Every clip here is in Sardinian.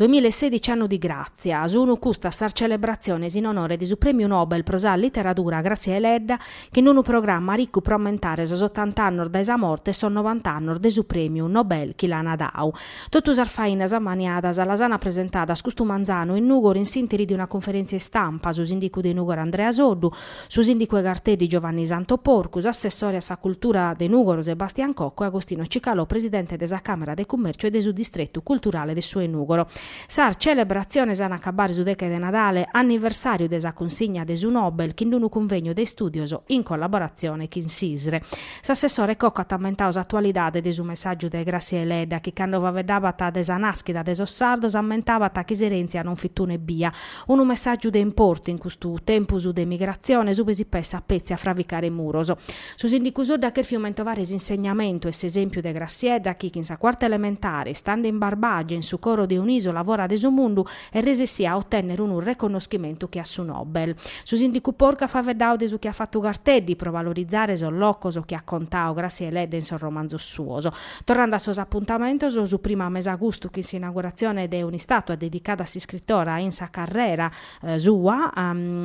2016 Annu di gràtzia, sunu custas sas celebratziones in onore de su Prèmiu Nobel pro sa literadura Gràssia Deledda chin unu programma ricu pro ammentare sos otant'annos dae sa morte e sos novant'annos de su Prèmiu Nobel chi l'ana dadu. Totu sas fainas ammaniadas las ana presentadas custu manzanu in Nùgoro in s'interi de una conferèntzia istampa su sìndicu de Nùgoro Andrea Soddu, Su sìndicu 'e Garteddi Giovanni Santo Porcu, s'assessore a sa cultura de Nùgoro Sebastian Cocco e Agostino Cicalò presidente de sa Càmera de Cummèrciu e de su distretu culturale de su 'e Nùgoro. Sas celebratziones an a acabare su deche de Nadale, anniversàriu de sa cunsigna de su Nobel, chin d'unu cunvegnu de istùdios in collaboratzione chin s'ISRE. S'assessore Cocco at ammentadu s'atualidade de su messàgiu de Gràssia Deledda chi cando faeddabat de sa nàschida de sos sardos ammentabat chi s'erèntzia non fit un'ebbia, Unu messàgiu de importu in custu tempus de migratziones ube si pessat petzi a fravicare muros. Su sìndicu Soddu at cherfiu mentovare s'insegnamentu e s'esèmpiu de Grassiedda chi chin sa cuarta elementare, istande in Barbagia in su coro de un'ìsola fora de su mundu, est resessìa a otènnere unu reconnoschimentu che a su Nobel. Su sìndicu Porcu at faeddadu de su chi at fatu Garteddi pro valorizare sos locos chi at contadu Gràssia Deledda in sos romanzos suos, Torrande a sos apuntamentos, su primu a mesagustu chin s'inauguratzione de un'istàtua dedicada a s'iscritora in sa carrera sua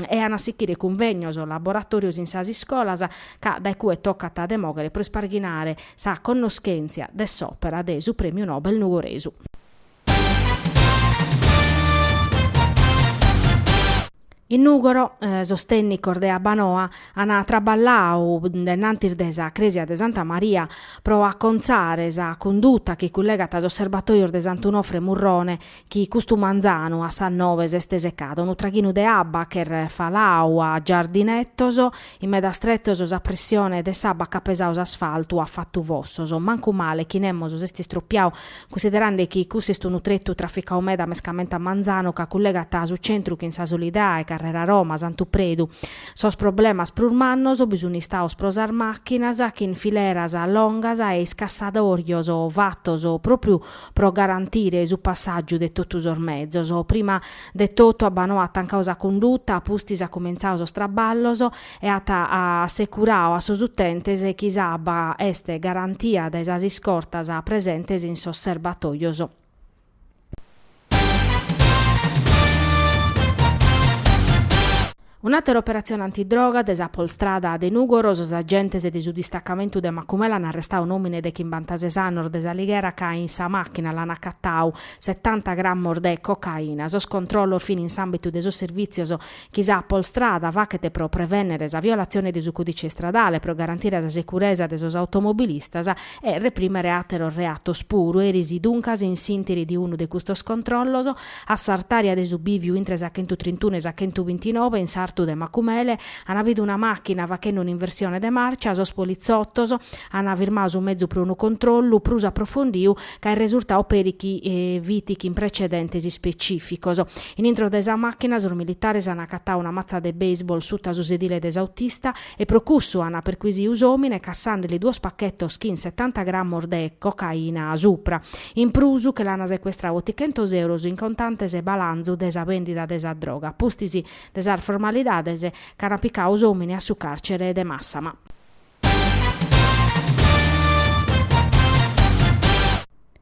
e an a sichire cunvegnos, laboratòrios in sas iscolas, ca dae cue tocat de mòghere pro isparghinare sa connoschèntzia de s'òpera de su prèmiu Nobel nugoresu. In Nùgoro, sos tènnicos de Abbanoa ant traballadu denantis de sa crèsia de Santa Maria pro acontzare sa cunduta chi cullegat sos serbatòios de Sant'Unofre e Murrone chi custu manzanu a sas nove s'est secada, unu traghinu de abba ch'est faladu a giardinetos In medas tretos sa pressione de s'abba ch'at pesadu s'asfaltu at fatu fossos. Mancu male chi nemos s'est istropiadu, cunsiderande chi cussu est unu tretu traficadu meda mescamente a manzanu ca cullegat su centru chin sa Solidae, Carrera Roma, Santu Predu. Sos problemas prus mannos bi sun istados pro sas màchinas chin fileras longas e iscassadòrios fatos pròpriu pro garantire su passàgiu de totu sos mezos. Prima de totu Abbanoa at tancadu sa cunduta, a pustis at cumentzadu sos traballos e at assecuradu a sos utentes chi s'abba est garantia dae sas iscortas presentes in sos serbatòios. Un'àtera operatzione antidroga de sa Polstrada de Nùgoro, sos agentes de su distacamentu de Macumela an arrestadu un'òmine de chimbantases annos de s'Alighera ca in sa màchina l'an acatadu setanta grammos de cocaina. Sos controllos fin in s'àmbitu de sos servìtzios chi sa Polstrada faghet pro prevènnere sa violatzione de su còdice istradale, pro garantire sa seguresa de sos automobilistas e reprimere àteros reatos puru. Eris duncas in s'ìntiri de unu de custos controllos, A s'artària de su bìviu intre sa chentu trintunu e sa chentu bintinove, in sartu de Macumele, an bidu una màchina fachende un'inversione de màrcia, sos politzotos an firmadu su mezu pro unu controllu prus aprofondiu ca est resurtadu peri chi fit chin precedentes ispecìficos. In intro de sa màchina sos militares an acatadu una matza de baseball suta su sedile de s'autista e pro cussu an perquisidu s'òmine cassande li duos pachetos chin setanta grammos de cocaina a supra. In prus, che l'ant secuestradu otichentos euros in contantes, balanzu de sa bèndida de sa droga, a pustis de sas formalidades, ch'ant picadu s'òmine a su càrcere de Màssama.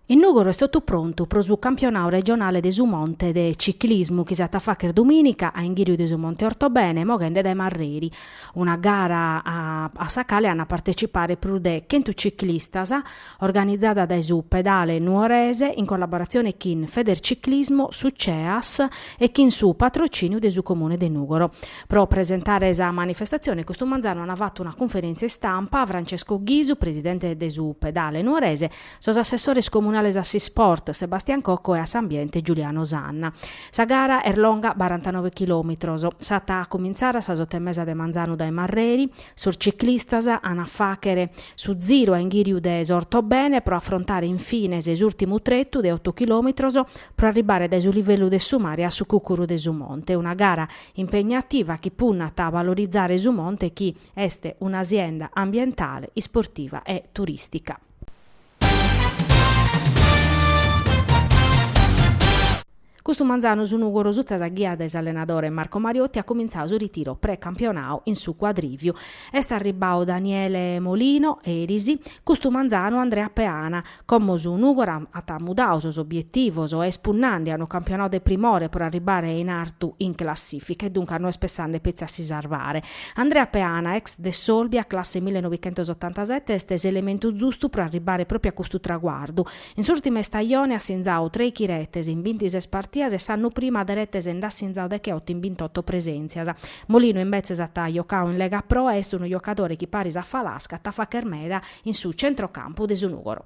In Nùgoro est totu prontu pro su campionadu regionale de su monte de ciclismu chi s'at a fàghere dumìnica a inghìriu de su Monte Ortobene, moghende dae Marreri. Una gara a sa cale ant a partecipare prus de chentu ciclistas, organizada dae su Pedale Nuorese in collaboratzione chin Federciclismo, su CEAS e chin su patrocìniu de su Comune de Nùgoro. Pro presentare sa manifestatzione custu manzanu ant fatu una cunferèntzia istampa Francesco Ghisu, presidente de su Pedale Nuorese, sos assessores comunales a s'Isport, Sebastian Cocco e a s'Ambiente, Giuliano Sanna. Sa gara est longa barantanoe chilòmitros. S'at a cumintzare a sas oto e mesa de manzanu dae Marreri, Sos ciclistas an a fàghere su ziru a inghìriu de s'Ortobene pro afrontare in fines s'ùrtimu tretu de oto chilòmitros pro arribbare dae su livellu de su mare a su cùcuru de su Monte, una gara impegnativa chi punnat a valorizare su monte chi est una sienda ambientale, isportiva e turìstica. Custu manzanu su Nùgoro sutta sa ghia de s'allenadore Marco Mariotti at comintzadu su ritiru pre-campionau in su Cuadrìviu. Est arribbau Daniele Molino, eris, custu manzanu Andrea Peana. Como su Nùgoro at mudau sos obietivos e est punnende a unu campionau de primore pro arribbare in artu in classìfica e duncas no est pessende petzi a si sarvare. Andrea Peana, ex de s'Olbia, classe millenovichentosottantasette, est s'elementu zustu pro arribbare pròpiu a custu traguardu. In s'ùrtima istajone at sinzadu trèichi retes in bintises partidas e s'annu prima de retes nd'at sinzadu decheoto in bintotto presèntzias. Molino imbetzes at jocadu in Lega Pro e est unu jocadore chi paris a Falasca at a fàghere meda in su tzentrocampu de su Nùgoro.